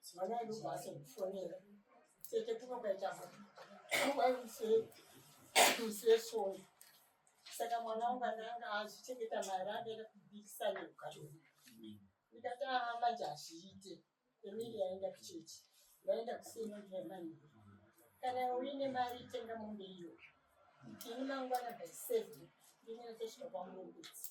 Sibana ndo basa kufonera. Sete kuma kaita mwana. Why say to say sorry. Saka mwana wangu ananga achichengeta mari aenda kubikisa nekukatona. Ndikati haa manje hazviite. Emiri yaenda kuchechi. Yaenda kusina ndiyamani. Kana uine mari itenga mombe iyo. Ini mangwana by seven. Ndinenge ndosvika kwamurungudzi.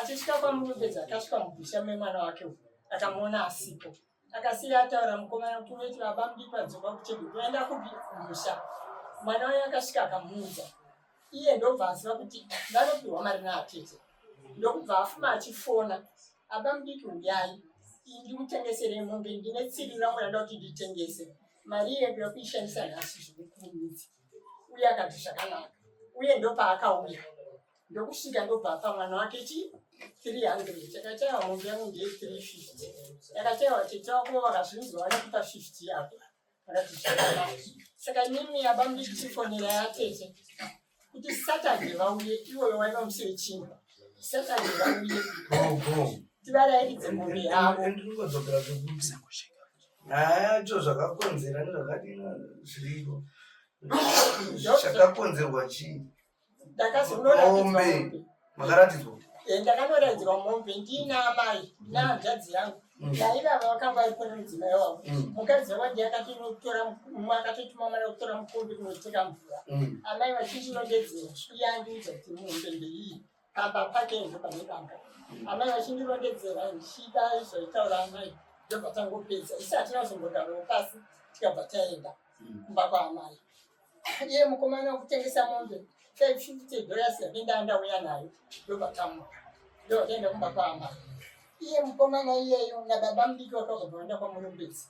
Achisvika kwaMurubedzi akasvika mubhisha memwana wake uyu akamuona asipo. Akasiya ataura mukomana kuti unoti baba mudi padzimba kuchedi kuenda kupi kumusha. Mwana waye akasvika akamuudza. Iye ndobva aziva kuti vanopihwa mari naatete. Ndokubva afuma achifona aba mudiki uyai ndikutengesere mombe ndine tsiri rangu randa kuti nditengese mari iye ndoda kuishandisa nhasi zvekukurumidza uye akati zvakanaka uye ndopaakauya ndokusvika ndobva apa mwana wake chi 300 chakachaiwa mombe yangu ndiye 350 yakachaiwa tete wako vakazvinzwa vanokupa 50 yako vakati zvakanaka saka nimi yaba mudikutifonera yatete kuti saturday vauye iwoyo waiva musi wechina saturday vauye tivarairidze mombe yavo acho zvakakonzera nezvakadina zviriko zvakakonzerwa chii ndakazonoratidzwa makaratidzwa eh, ndakanoratidzwa mombe ndiina amai nahanzvadzi yangu ndaivava vakanga vari kune mudzimai wavo mukadzi wavandi akatotora akatotuma mwana kutora mukombi kunoteka mvura amai vachinjinodedzera sviyandiudza kuti muhombe ndeiyi pamba pake izvo pane pamba amai vachindirondedzera ndichida izvaitaura amai ndobva tangopedza isi hatina kuzombogaroo pasi tikabva taenda kumba kwaamai iye mukomana wekutengesa mombe taififty dollars yake ndaandauya nayo ndobva tamuka ndobva taenda kumba kwaamai iye mukomana iyeyo nababa mudiki wakazobva vaenda kwamurumbidzi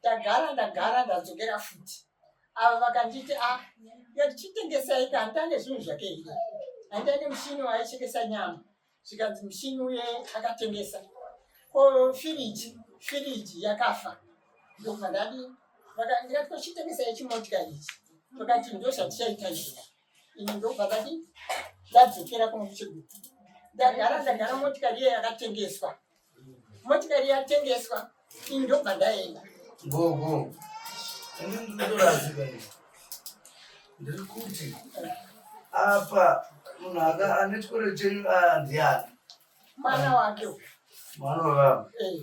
ndagara ndagara ndadzokera futi ava vakanditi a ah, yatichitengesai ka handitange zvinhu zvake hii handitange mushini waaichekesa nyama zvikanzi mushini uye akatengesa ko firiji firiji yakafa ndokubva ndadi ndikati kochitengesai chimotika ichi vakati ndozvatichaita izvozvo ini ndobva ndati ndadzokera kuno kuchigutu ndagara ndagara motikari iye yakatengeswa motikari yatengeswa ini ndobva ndaenda gogo ini ndinotorazika ndiri kuti apa munhu aka ane chikoro chenyu andiani mwana wake mwana wevamwe eh.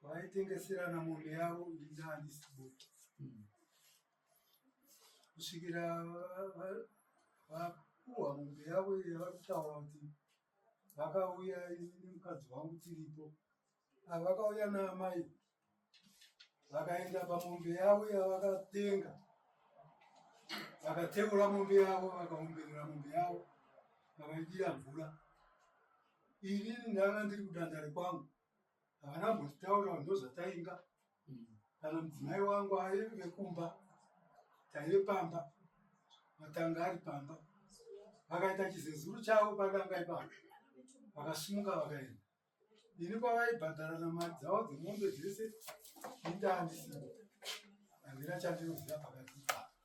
kwaitengeserana mombe yavo ndani sibuti kusvikira vapuhwa mombe yavo yavakutaura kuti vakauya nemukadzi wangu tiripo ava vakauya naamai vakaenda pamombe yavo yavakatenga vakateura mombe yavo vakaomberera mombe yavo vakaidira mvura ini ndanga ndiri kudandare kwangu havana mbotitaura ndo zvatainga kana mudzimai wangu aive kumba taive pamba matanga ari pamba vakaita chizezuru chavo padanga ipapa vakasumuka vakaenda ini kwavaibhadharana mari dzavo dzemombe dzese indaandisii handina chandinoziva pakati ipapa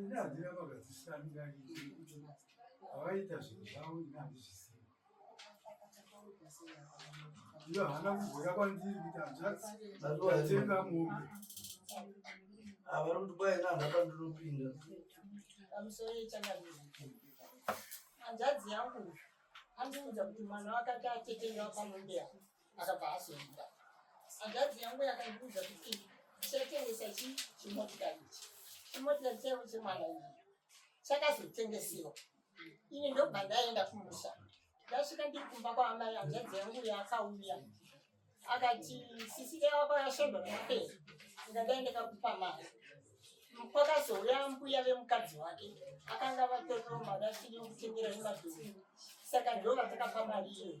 ine handina vakadzishamira ii kuti avaita zvinhu zvavo ine handizvisiva iyo hana kugoya kwandiri kuti hanzvatenga mombe avari kuti kwai ine hana pandinopinda hanzvadzi yangu andiudza kuti mwana wakati atetenga pamombe yavo akabva azoenda hanzvadzi yangu yakandiudza kuti ndichatengesa chi chimotikari ichi chimotikari chaivo chemwana iyi chakazotengesewa ini ndobva ndaenda kumusha ndasvika ndiri kumba kwaamai hanzvadzi yangu yaakauya akati sisi yavako yashandwa nokupera ndikadai ndakakupa mari kwakazouya mbuya vemukadzi wake akanga vatoriro mari asiri yokutengera imadhuru saka ndova takapa mari iyoyo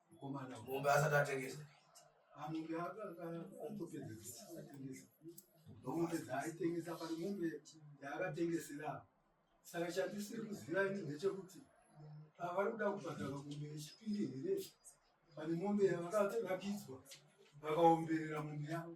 Mukomana mombe asati atengesa. Amombe akatopedzesa atengesa. Mombe dzaaitengesa pari mombe yaakatengesera apa. Saka chandisiri kuziva ini ndechekuti pavari kuda kubhadhara mombe yechipiri here pane mombe yavakarapidzwa vakaomberera mombe yavo.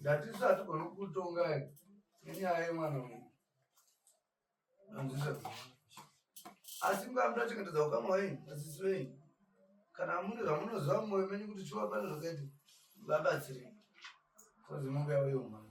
Ndatisu hatigona kutonga nenyaya yemwana uyu. Anzisa. Asi mkamda chengetedza ukama wenyu, asisi wenyu. Kana mune zvamunoziva mumwoyo menyu kuti shuwa pane zvakaiti vabatsirei. Kozi mumbuya uyo mwana.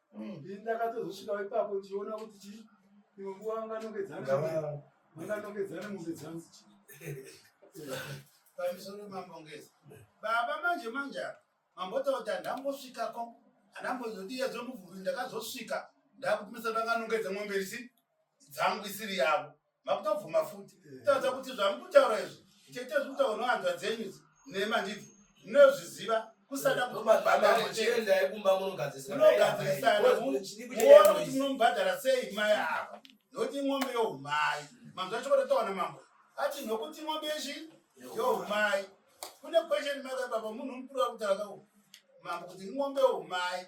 Ndini ndakatozosvikawo ipapo ndichiona kuti chii imwe nguva vanganongedzana vanganongedzana mombe dzangu pamisoro mambongezi baba manje manje apa mambotaura kuti handambosvikako handambozodiya dzomuvhuri ndakazosvika ndakutumisa vanganongedza mombe risi dzangu isiri yavo makutobvuma futi kutaudza kuti zvamuri kutaura izvi chete zviri kutaura nohanzwa dzenyu nema ndidzi munozviziva kusada kutomabaaiendai kumba munogadzirisanamuona kuti munomubhadhara sei mai ava nokuti imwombe youmai manzwa chikototaona mambo ati nokuti imwombe yechi youmai kune question maka baba munhu mukuru wakutaura mambo kuti imwombe youmai